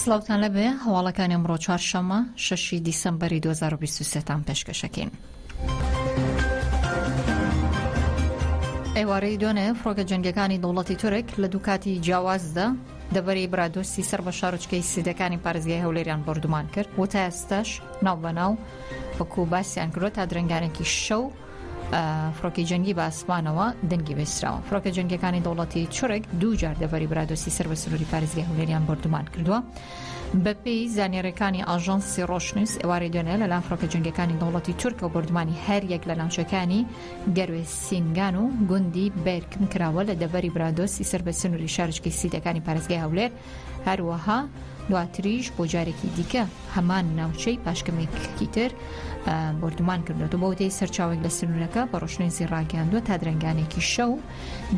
سڵاوتان لەبێ، هەواڵەکانی ئەمڕۆ چوارشەممە شەشی دیسەمبەری 2023 تان پێشکەشەکەین. ئێوارەی دوێنێ فڕۆکە جەنگەکانی دەوڵەتی تورک لە دوو کاتی جیاوازدا دەبەری برادۆستی سەر بە شارچکەی سیدەکانی پارێزگای هەولێریان بردومان کرد و تا ئێستاش ناو بەناو وەکو باسییان کرۆ تا درنگانێکی شەو فڕۆکەی جەنگی بە ئاسمانەوە دەنگی بەستراوە فڕۆکە جەنگەکانی دەوڵەتی چڕێک دوو جار دەڤری برادۆسی سەر بە سنووری پارێزگای هەولێریان بردومان کردووە بەپی زانێرەکانی ئاژانسی ڕۆشنووس ئێوارەی دوێنێ لەلام فڕۆکە جنگەکانی دەوڵەتی تورکە و بردمانی هەر یەک لە ناوچەکانی گەروێ سینگان و گوندی بێرکم کراوە لە دەڤری برادۆسی سەر بە سنووری شارچکی سیدەکانی پارێزگای هەولێر هەروەها دواتریش بۆ جارێکی دیکە هەمان ناوچەی پاشکەمێککی تر بردومان کردوەوە بۆ دەی سەرچاوێک لە سنوورەکە بە ڕۆشنێنسی ڕاگەاندوە تا درنگانێکی شەو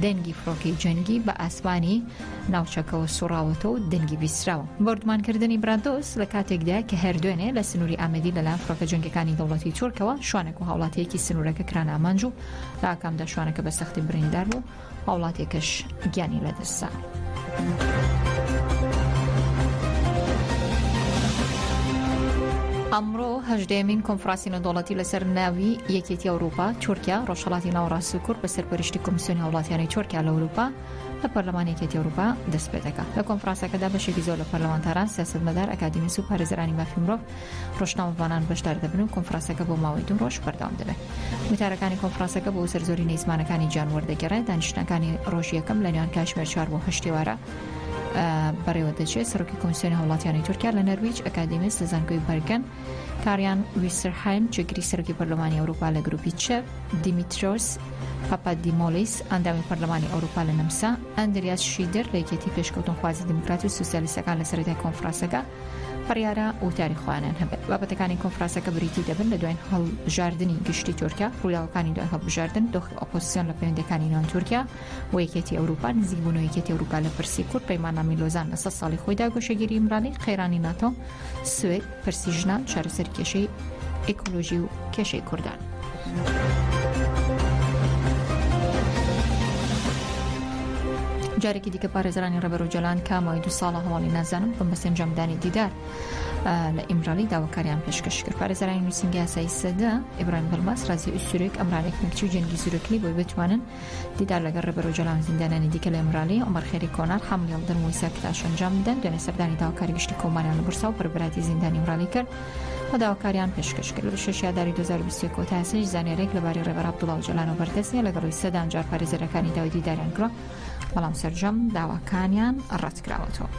دەنگی فڕۆکەی جەنگی بە ئاسمانی ناوچەکەەوە سوڕاوەتە و دەنگی بیسراوە بردمانکردنی برادۆس لە کاتێکدا کە هەردوێنێ لە سنووری ئامەدی لەلایەن فڕۆکە جەنگەکانی دەوڵەتی تورکەوە شوانێک و هاوڵاتیەکی سنوورەکە کران ئامانج و لە ئاکامدا شوانەکە بە سەختی بریندار بوو هاوڵاتیەکەش گیانی لەدەستدا. ئەمڕۆ هەژدەیەمین کۆنفراسی نەدۆڵەتی لەسەر ناوی یەکێتی ئەوروپا تورکیا ڕۆژهڵاتی ناوەڕاست و کورد بە سەرپەرشتی کۆمسیۆنی هاوڵاتیانی تورکیا لە ئەوروپا لە پەرلەمان یەکێتی ئەوروپا دەست پێ دەکات لە کۆنفرانسەکەدا بەشێکی زۆر لە پەرلەمانتاران سیاستمەدار ئەکادیمیس و پارێزەرانی مافی مرۆڤ ڕۆژنامەڤانان بەشدار دەبن و کۆنفراسەکە بۆ ماوەی دوو ڕۆژ بەردەوام دەبێت وتارەکانی کۆنفراسەکە بۆ سەرزۆری نەی زمانەکانی جانوەر دەگەڕێت دانیشتنەکانی ڕۆژی یەکەم لە نێوان کاتژمێر چوار بۆ هەشت ئێوارە بەڕێوە دەچێت سەرۆکی کۆنسیۆنی هاوڵاتیانی تورکیا لە نەرویج ئەکادیمیست لە زانکۆی بەرگەن کاریان ویسرهایم جێگری سەرۆکی پەرلەمانی ئەوروپا لە گروپی چە دیمیترۆس پاپادیمۆلیس ئەندامی پەرلەمانی ئەوروپا لە نەمسا ئەندریاس شیدر لە یەکێتی پێشکەوتنخوازی دیموکرات و سوسیالیستەکان لە سەرەتای کۆنفرانسەکە بڕیارە وتاری خۆیانیان هەبێت بابەتەکانی کۆنفراسەکە بریتی دەبن لە دوای هەڵبژاردننی گشتی تورکیا ڕووداوەکانی دوای هەڵبژاردن دۆخی ئۆپۆسیسیۆن لە پەیوەندەکانی نێوان تورکیا و یەکێتی ئەوروپا نزیک بوون و یەکێتی ئەوروپا لە پرسی کورد پەیماننامی لۆزان لە سەد ساڵی خۆیدا گۆشەگیری ئیمرالی قەیرانی ناتۆ سوێد پرسی ژنان چارەسەری کێشەی ئیکۆلۆژی و کێشەی کوردان. جارێکی دیکە پارێزرانی ڕێبەر و جەلان کە ماوەی دو ساڵە هەواڵی نازانم بم بە سنجامدانی دیدار لە ئیمرالی داواکاریان پێشکەش کرد پارێزرانی نووسنگی یاسایی سەدە ئبراهیم بڵماس رازی ئوسورێک ئەمرانێک مکچی و جەنگی زورەکلی بۆی بتوانن دیدار لەگەڵ ڕێبەر ئۆجالان و زیندانیانی دیکە لە ئیمرالی، عومەر خێری کۆنار، حامل یەڵدرم و ئیسا کتاش ئەنجام بدەن، دوێنێ سەردانی داواکاری گشتی کۆماریان لە بورسا و بەربراتی زیندانی ئیمرالی کرد و داواکاریان پێشکەش کرد. لە بیست و شەش ئاداری دوو هەزار و بیست و یەک کۆتا ئێستا هیچ زانیارییەک لەبارەی ڕێبەر عەبدوڵا ئۆجالانەوە بەردەست نییە، لەگەڵی سەدان جار پارێزەرەکانی داوای دیداریان کردووە، بەڵام سەرجەم داواکانیان ڕەتکراوەتەوە.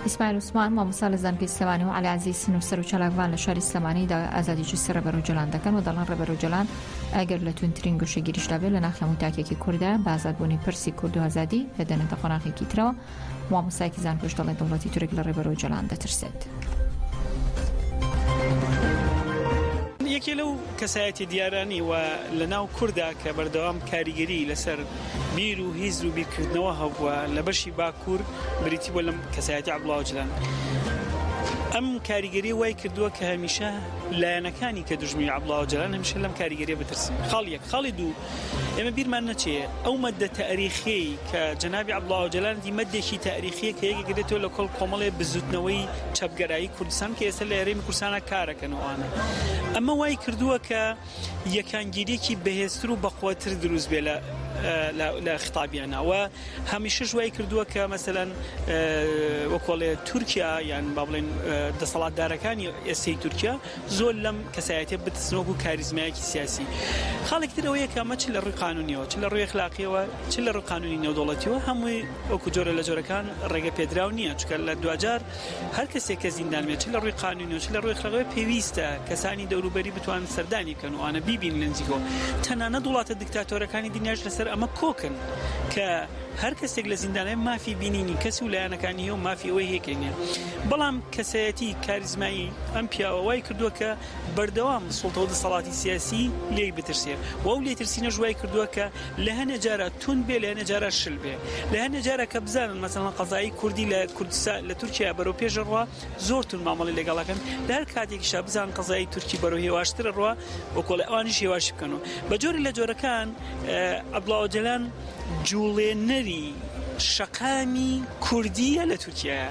ئیسماعیل عوسمان، مامۆستا لە زانکۆی سلێمانی و عەلی عەزیز، نووسەر و چالاکڤان لە شاری سلێمانی دا ئازادی جستی ڕێبەر ئۆجەلان دەکەن و دەڵێن ڕێبەر ئۆجەلان ئەگەر لە توندترین گۆشەگیریش دا بێت لە ناخی هەموو تاکێکی کوردە بە ئازادبوونی پرسی کورد و ئازادی دەدەنێتە قۆناغێکی ترەوە. مامۆستایەکی زانکۆش دەڵێت دەوڵەتی تورک لە ڕێبەر ئۆجەلان دەترسێت. یەکێ لەو کەسایەتی دیارانی و لە ناو کوردا کە بەردەوام کاریگەری لەسەر بیر و هیز و بیرکردنەوە هەبووە لە بەشی باکوور بریتی بووە لەم کەسایەتی عەبدوڵا ئۆجلان ئەم کاریگەری وای کردووە کە هەمیشە لایەنەکانی کە دژمی عبڵا ئۆجلان هەمیشە لەم کاریگەری بترسن خاڵ یەک خاڵی دوو ئێمە بیرمان نەچێ ئەو مەدە تاریخی کە جەنابی عبڵا ئۆجلان دی مەدێکی تاریخیە کە یەکگرێتەوە لە کۆڵ کۆمەڵێ بزوتنەوەی چەپگەرایی کوردستان کە ئێستا لە ئێرەی کوردستانە کارەکەنەوەوانە ئەمە وای کردووە کە یەکانگیریەکی بەهێزتر و بەقوەتر دروست بێ لە خطابیانە و هەمیشش وای کردووە کە مەسەەن وەکۆڵێ تورکیا یان با بڵێن دەسەڵاتدارەکانی ئێسی تورکیا زۆر لەم کەسایەتە بتسنۆک و کاریزمایەکی سیاسی خاڵێک ترەوەیە کەمە چ لە ڕووی قانونیەوە چ لە ڕووی خلاقیەوە چ لە ڕقانونی نێودوڵەتیەوە هەمووی وەکو جۆرە لە جۆرەکان ڕێگە پێدراو نییە چکە لە دوجار هەر کەسێک کە زیندان بێت چ لە ڕووی قانونی و چ لە ڕووی ئەخلاقیەوە پێویستە کەسانی دەوروبەری بتوانن سەردانی بکەن و ئەوانە بیبینن لە نزیکەوە تەنانەت وڵاتە دیکتاتۆرەکانی دنیاش لەسەر ئەمە کۆکن کە هەر کەسێک لە زیندان هەیە مافی بینینی کەس و لایەنەکانی هەیە و مافی ئەوەی هەیە کە هەیە بەڵام کەسایەتی کاریزمایی ئەم پیاوە وای کردووە کە بەردەوام سوڵتە و دەسەڵاتی سیاسی لێی بترسێ و ئەو لێترسینەش وای کردووە کە لە هەنێ جارە توند بێ لەهەنێ جارە شل بێ لەهەنێ جارە کە بزانن مەسەڵەن قەزایی کوردی لە کوردستان لە تورکیا بەرەو پێش ڕوا زۆر تون مامەڵی لەگەڵەکەن لە هەر کاتێکیشا بزان قەزایی تورکی بەرەو هێواشترە ڕوا وەکۆڵی ئەوانیش هێواش بکەن و بە جۆری لە جۆرەکان عبدڵاوجلان جوڵێنەری شەقامی کوردیە لە تورکیا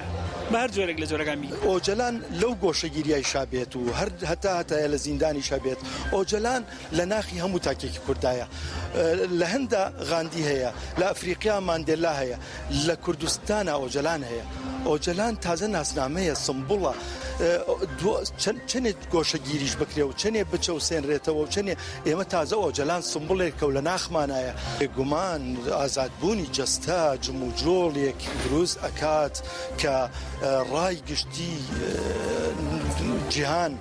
بار جۆرێک لە جۆرەکان بی ئۆجەلان لەو گۆشەگیریای شابێت و هەر هەتا هەتایە لە زیندانیشە بێت ئۆجەلان لە ناخی هەموو تاکێکی کورددایە. لە هنددا غاندی هەیە، لە ئەفریقیا ماندێلا هەیە، لە کوردستانا ئۆجەلان هەیە. ئۆجەلان تازە ناسنامەیە، سمبوڵە. چەنێ گۆشەگیریش بکرێ و چەنێ بچەوسێنرێتەوە و چەنێ، ئێمە تازە ئۆجەلان سمبوڵێکە و لە ناخمانایە. بێگومان ئازادبوونی جەستە جموجۆڵێک دروست ئەکات کە ڕای گشتی جیهان،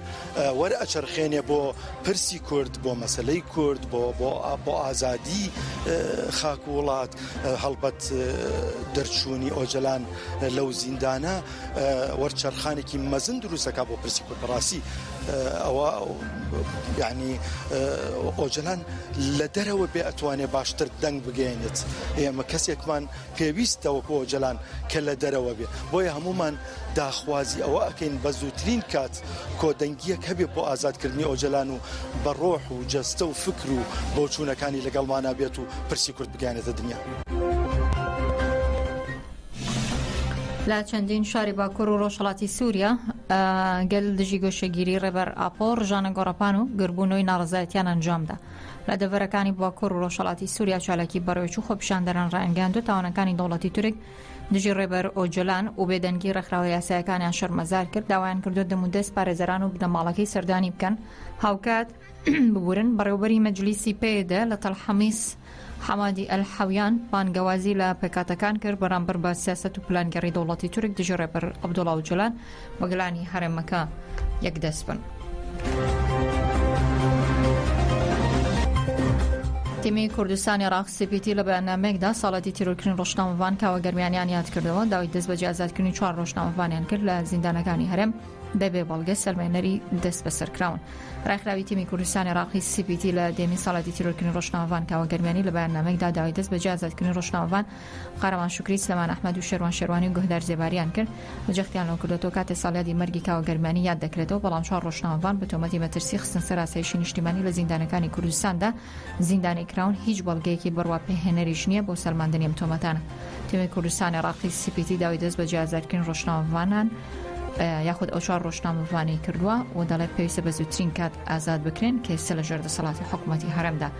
وەر ئەچەرخێنێ بۆ پرسی کورد بۆ مەسلەی کورد بۆ بۆ بۆ ئازادی خاک وڵات هەڵبەت دەرچوونی ئۆجلان لەو زیندانە وەرچەرخانێکی مەزن دروستەکە بۆ پرسی کورد بەڕاستی ئەوە یعنی ئۆجلان لە دەرەوە بێ ئەتوانێ باشتر دەنگ بگەێنێت ئێمە کەسێکمان پێویستە وەکو ئۆجەلان کە لە دەرەوە بێ، بۆیە هەموومان داخوازی ئەوە ئەکەین بە زووترین کات کۆدەنگییەک هەبێ بۆ ئازادکردنی ئۆجەلان و بە ڕۆح و جەستە و فکر و بۆچوونەکانی لەگەڵمانا بێت و پرسی کورد بگەیەنێتە دنیا. لە چەندین شاری باکور و ڕۆژهەڵاتی سوریا گەل دژی گۆشەگیری ڕێبەر ئاپۆ ڕژانە گۆڕەپان و گربوونەوەی ناڕەزایەتیان ئەنجامدا. لە دەڤەرەکانی باکۆر و ڕۆژهەڵاتی سووریا چالاکی بەڕێوەچوو خۆپیشاندەران ڕایانگەیاندو تاوانەکانی دەوڵەتی تورک دژی ڕێبەر ئۆجۆلان و بێدەنگی ڕێکخراوە یاسایەکانیان شەرمەزار کرد داوایان کردووە دەمودەست پارێزەران و بنەماڵەکەی سەردانی بکەن هاوکات ببورن بەڕێوبەری مەجلیسی پێدە لە تەلحەمیس حەمادی ئەلحەویان بانگەوازی لە پێکاتەکان کرد بەرامبەر بە سیاست و پلانگەڕی دەوڵەتی تورک دژی ڕێبەر عبدوڵاو جلان بەگەلانی هەرێمەکە یەک دەست بن. تیمی کوردستان عێراق سیپیتی لە بەیاننامەیەکدا ساڵاتی تیرۆرکردنی ڕۆژنامەڤان کاوە گەرمیانیان یاد کردەوە داوای دەست بەجێ ئازادکردنی چوار ڕۆژنامەڤانیان کرد لە زیندانەکانی هەرێم بەبێ بەڵگە سەلمێنەری دەست بەسەرکراون ڕێکخراوی تیمی کوردستانی عراقی سیپیتی لە دێمی ساڵاتی تیرۆرکردنی ڕۆژنامەڤان کاوە گەرمیانی لە بەیاننامەیەکدا داوای دەست بەجێ ئازادکردنی ڕۆژنامەڤان قارەمان شوکری، سلێمان ئەحمەد و شێروان شێروانی و گوهدار زێباریان کرد و جەختیان لەوە کردووەتەوە کاتێ ساڵیادی مەرگی کاوە گەرمیانی یاد دەکرێتەوە بەڵام چوار ڕۆژنامەڤان بە تۆمەتی مەترسی خستن سەر ئاسایشی نیشتیمانی لە زیندانەکانی کوردستاندا زیندانی کراون هیچ بەڵگەیەکی بڕوا پێهێنەریش نییە بۆ سەلماندنی ئەم تۆمەتانە تیمی کوردستان عێڕاقی سی پی تی داوای دەست بەجێ ئازادکرین ڕۆژنامەڤانان یاخود ئەو چوار ڕۆژنامەڤانەی کردووە و دەڵێت پێویستە بە زووترین کات ئازاد بکرێن کە ئێستا لە ژێر دەسەڵاتی حکوومەتی هەرێمدا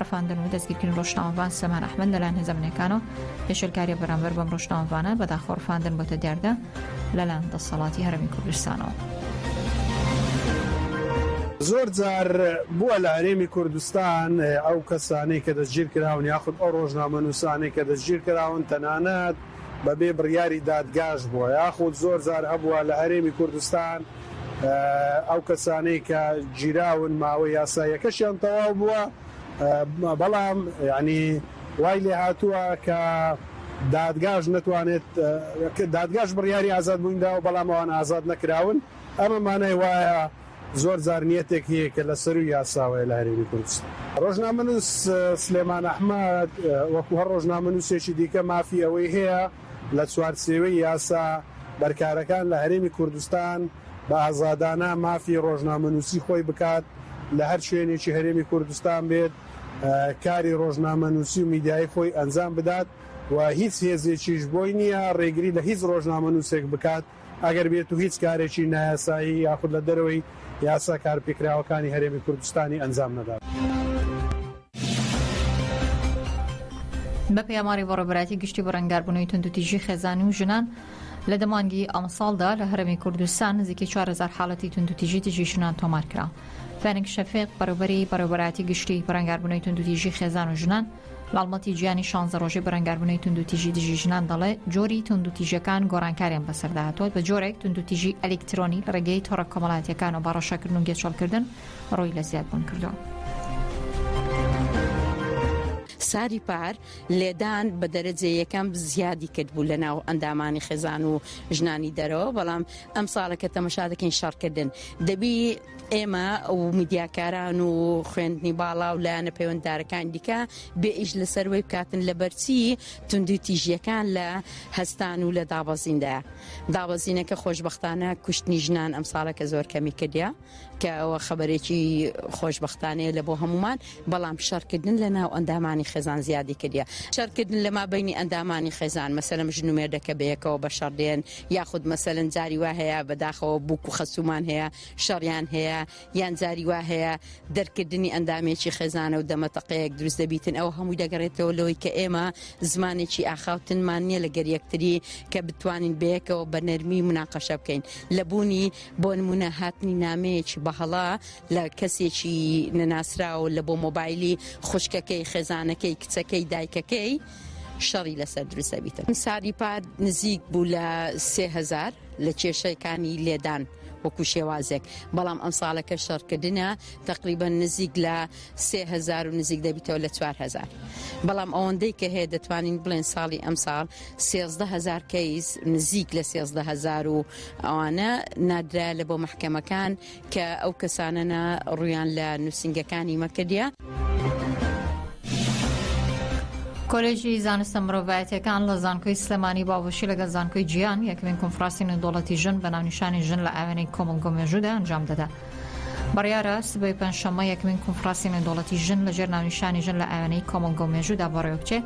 ڕفاندن و دەستگیرکردنی ڕۆژنامەڤان سەمان ئەحمەد لەلایەن هێزە ئەمنیەکانەوە پێشێلکاریە بەرامبەر بەم ڕۆژنامەڤانە بەداخەوە ڕفاندن بۆتە دیاردە لەلایەن دەسەڵاتی هەرێمی کوردستانەوە. زۆر جار بووە لە هەرێمی کوردستان ئەو کەسانەی کە دەستگیرکراون یاخود ئەو ڕۆژنامەنووسانەی کە دەستگیرکراون تەنانەت بەبێ بڕیاری دادگاش بووە یاخود زۆر جار هەبووە لە هەرێمی کوردستان ئەو کەسانەی کە گیراون ماوەی یاساییەکەشیان تەواو بووە، بەڵام یانی وای لێهاتووە کە دادگاش نەتوانێت، دادگاش بڕیاری ئازادبووین داوە، بەڵام ئەوان ئازاد نەکراون، ئەمە مانای وایە زۆر جار نیەتێک هەیە کە لەسەرووی یاساوەیە لە هەرێمی کوردستان. رۆژنامەنووس سلێمان ئەحمەد وەکو هەر رۆژنامەنووسێکی دیکە مافی ئەوەی هەیە، لە چوارچێوەی یاسا بەرکارەکان لە هەرێمی کوردستان بە ئازادانە مافی ڕۆژنامەنووسی خۆی بکات لە هەر شوێنێکی هەرێمی کوردستان بێت کاری ڕۆژنامەنووسی و میدیایی خۆی ئەنجام بدات و هیچ هێزێکیش بۆی نییە ڕێگری لە هیچ ڕۆژنامەنووسێک بکات. ئەگەر بێت و هیچ کارێکی نایاسایی یاخود لە دەرەوەی یاسا کارپێکراوەکانی هەرێمی کوردستانی ئەنجام نەدات. بە پێی ئاماری بەڕێوەبەرایەتی گشتی بەڕەنگاربوونەوەی توندوتیژی خێزان و ژنان، لە دە مانگی ئەمساڵدا لە هەرێمی کوردستان نزیکەی چوار هەزار حاڵەتی توندوتیژی دژی ژنان تۆمار کرا. فەرەنگ شەفیق، بەڕێوەبەری بەڕێوەبەرایەتی گشتی بەڕەنگاربوونەوەی توندوتیژی خێزان و ژنان، هەڵمەتی جیهانی شانزە ڕۆژەی بەرەنگاربوونەوەی توندوتیژی دژی ژنان دەڵێت جۆری توندوتیژەکان گۆڕانکاریان بەسەردا هاتووە بە جۆرێک توندوتیژی ئەلیکترۆنی لە ڕێگەی تۆڕە کۆمەڵاتیەکان و باڕەشەکردن و گێچەڵکردن ڕووی لە زیادبوون کردووە. ساری پار لێدان بە دەرەجە یەکەم زیادی کرد بوو لە ناو ئەندامانی خێزان و ژنانی دەرەوە بەڵام ئەم ساڵەکە تەمەشا دەکەین شەڕکردن دەبی ئێمە و میدیاکاران و خوێندنی باڵا و لایەنە پەیوەنددارەکان دیکە بێ ئیش لەسەر وی بکاتن لە بەرچی توندی تیژیەکان لە هەستان و لە دابەزیندا دابەزینەکە خۆشببختانە کوشتنی ژنان ئەم ساڵەکە زۆر کەمی کردیا کە ئەوە خەبەرێکی خۆشببختانەیە لە بۆ هەمومان بەڵام شەرکردن لە ناو ئەندامانی خێزان زیادی کردیا شەرکردن لەما بینی ئەندامانی خێزان مەسەرم ژنومێردەکە بەیەکەوە بە شەڕدێن یاخود مەسەلەن جاری وا هەیە بەداخەوە بووک و خەسوومان هەیە شەڕیان هەیە یان جاری وا هەیە دەرکردنی ئەندامێکی خێزانە و دەمەتەقەیەک دروست دەبیتن ئەو هەمووی دەگەڕێتەوە لەوەی کە ئێمە زمانێکی ئاخاوتنمان نییە لەگەر یەکتری کە بتوانین بەیەکەوە بە نەرمی مناقەشە بکەین لە بوونی بۆ نمونە هاتنی نامەیەکی بەهڵا لە کەسێکی نەناسراوە لە بۆ مۆبایلی خوشکەکەی خێزانەکەی کچەکەی دایکەکەی شەڕی لەسەر دروست دەبیتن ساری پار نزیک بوو لە سهزار لە کێشەکانی لێدان وەکو شێوازێک بەڵام ئەم ساڵەکە شەڕکردە تقریبا نزیک لە سهزار و نزیک دەبیتەوە لە 4هزار بەڵام ئەوەندەی کە هەیە دەتوانین بڵێن ساڵی ئەم ساڵ سهزار کەیس نزیک لە سهزار و ئەوانە نادرایە لە بۆ محکەمەکان کە ئەو کەسانەە ڕویان لە نووسنگەکانی مەکردە. کۆلێژی زانستە مرۆڤایەتەکان لە زانکۆی سلێمانی باوەشی لەگەڵ زانکۆی جیان یەکمین کنفراسی نێودوڵەتی ژن بە ناونیشانی ژن لە ئاوێنەی کۆمەلگۆ مێژوودا ئەنجام دەدا. بڕیارە سبەی پێنجشەممە یەکمین کنفراسی نێودوڵەتی ژن لەژێر ناونیشانی ژن لە ئاوێنەی کۆمەلگۆ مێژوودا بەڕێوە بچێ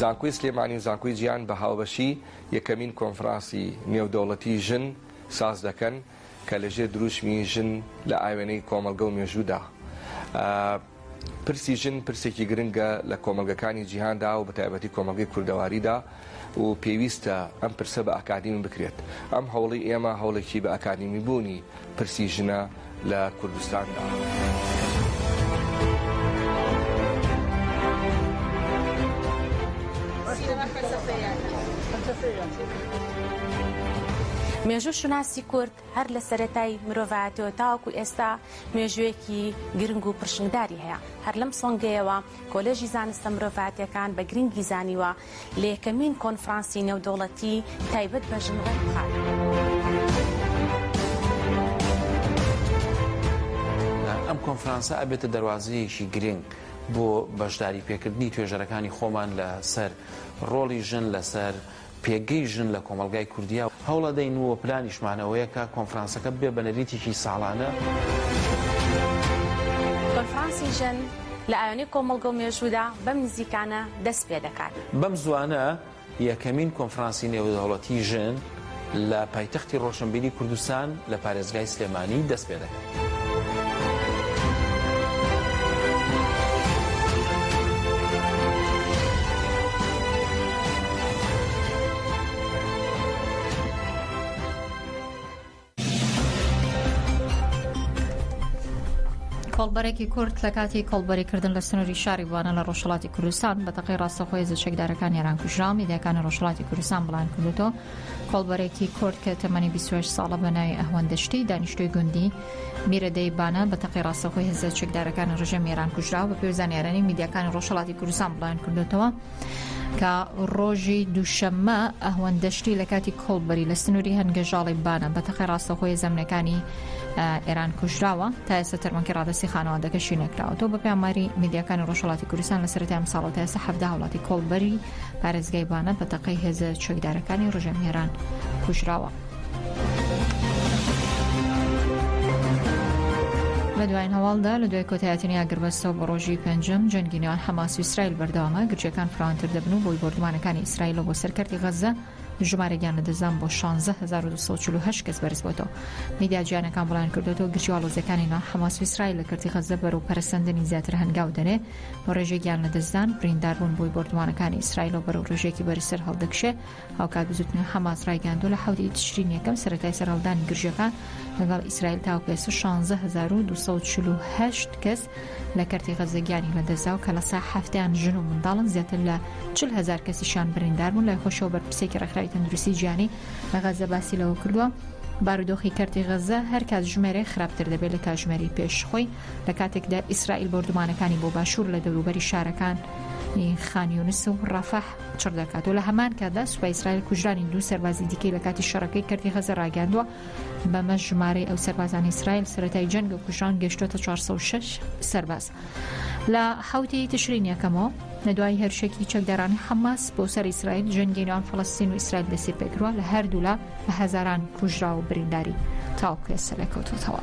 زانکۆی سلێمانی و زانکۆی جیهان بە هاوبەشی یەکەمین کۆنفرانسی نێودەوڵەتی ژن ساز دەکەن کە لەژێر دروشمی ژن لە ئاوێنەی کۆمەڵگە و مێژوودا پرسی ژن پرسێکی گرنگە لە کۆمەڵگەکانی جیهاندا و بە تایبەتی کۆمەڵگەی کوردەواریدا و پێویستە ئەم پرسە بە ئاکادمی بکرێت ئەم هەوڵی ئێمە هەوڵێکی بە ئاکادمی بوونی پرسی ژنە لە کوردستاندا. مێژوو شوناسی کورد هەر لە سەرەتای مرۆڤایەتیەوە تاوەکو ئێستا مێژوویەکی گرنگ و پرشنگداری هەیە هەر لەم سۆنگەیەوە کۆلێژی زانستە مرۆڤاتیەکان بە گرنگی زانیوە لە یەکەمین کۆنفرانسی نێودەوڵەتی تایبەت بە ژن ئەم کۆنفرانسە ئەبێتە دەواازەیەکی گرنگ بۆ بەشداری پێکردنی توێژەرەکانی خۆمان لەسەر ڕۆڵی ژن لەسەر پێگەی ژن لە کۆمەڵگای کوردیا هەوڵەدەین و پلانیشمان ئەوەیە کە کۆنفرانسەکە ببێ بە نەریتێکی ساڵانە. کۆنفرانسی ژن لە ئایۆنی کۆمەڵگە و مێژوودا بەم نزیکانە دەست پێ دەکات. بەم زووانە یەکەمین کۆنفرانسی نێودەوڵەتی ژن لە پایتەختی ڕۆشنبیری کوردستان لە پارێزگای سلێمانی دەست پێ دەکات. کۆڵبەرێکی کورد لە کاتی کۆڵبەریکردن لە سنووری شاری بوانە لە ڕۆژهڵاتی کوردستان بە تەقی ڕاستەخۆی زە چەکدارەکان یێران کوژرا میدیەکانی ڕۆژهڵاتی کوردستان بڵاوکردوتەوە کۆڵبەرێکی کورد کە تەمەنی بیست و هەشت ساڵە بە ناوی ئەهوەن دەشتی دانیشتووی گوندی میرەدەی بانە بە تەقەی ڕاستەوخۆی هێزە چەکدارەکانی ڕژێمی ئێران کوژراوە بەپێی زانیاریی میدیاکانی ڕۆژهەڵاتی کوردستان بڵاویان کردووەتەوە کە ڕۆژی دووشەممە ئەهوەن دەشتی لە کاتی کۆڵبەری لە سنووری هەنگەژاڵی بانە بە تەقەی ڕاستەوخۆی زەمنەکانی ئێران کوژراوە تا ئێستا تەرمەکی ڕادستی خانەوادەکەشی نەکراوەەوە بە پێماری میدیاکانی ڕۆژهڵاتی کوردستان لە سەرەتای ئەم ساڵەوە تا ئێستا حەفدا وڵاتی کۆڵبەری پارێزگای بانە بە تەقەی هێزە چەکدارەکانی ڕژێمی ئێران کوژراوە. لە دوایین هەواڵدا لە دوای کۆتایەتنی ئاگربەستەوە بە ڕۆژی پێنجم جەنگی نێوان حەماس و ئیسرائیل بەردەوامە گرچەکان فراوانتر دەبن و بۆی بۆردمانەکانی ئیسرائیلەوە بۆ سەرکەرتی غەزە ژمارە گیانە دەزان بۆ 16248 کەس بەرز بۆتەوە میدیا جیانەکان بڵیان کردوەوە گرچی هەڵۆزەکانی نا حەماس و ئیسرائیل لە کردی غەزە بەرەو پەرەسەندنی زیاتر هەنگاو دەنێ و ڕێژەی گیان لەدەستدان برینداربوون بۆی بۆردومانەکانی ئیسرائیلەوە بەرەو ڕێژەیەکی بەرزتر هەڵدەکشێ هاوکات بزوتنەوەی حەماس ڕایگەیاندووە لە حەوتی تشرینی یەکەم سەرەتای سەرهەڵدانی گرژەکان لەگەڵ ئیسرائیل تاوەکو ئێستا 16248 کەس لە کەرتی غەززە گیانی لەدەستدا و کە لە سەدا حەفتەیان ژن و منداڵن زیاتر لە 40 هەزار کەسیشیان برینداربوون لای خۆشەوە بەرپرسێکی ڕێکخراوی تەندروستی جیهانی لە غەززە باسی لەوە کردووە بارودۆخی کەرتی غەززە هەر کاتژمێرێک خراپتر دەبێت لە کاتژمێری پێش خۆی لە کاتێکدا ئیسرائیل بۆردومانەکانی بۆ باشوور لە دەوروبەری شارەکان خانیونس و ڕەفەح چڕ دەکات و لە هەمان کاتدا سوپای ئیسرائیل کوژرانی دوو سەربازی دیکەی لە کاتی شەڕەکەی کردی غەزە ڕاگەاندووە بەمە ژمارەی ئەو سەربازان ئیسرائیل سەتای جەنگ و کوژران گەشتوتە 406 سەرباز لە حوتی تشرین یەکەمەوە لە دوای هێرشێکی چەکدارانی حەماس بۆ سەر ئیسرائیل جەنگی ناو فلستین و ئیسرائیل دەستی پێکرا لە هەردوولا بە هەزاران کوژرا و برینداری تاوکێسە لەکەوتوتەوە.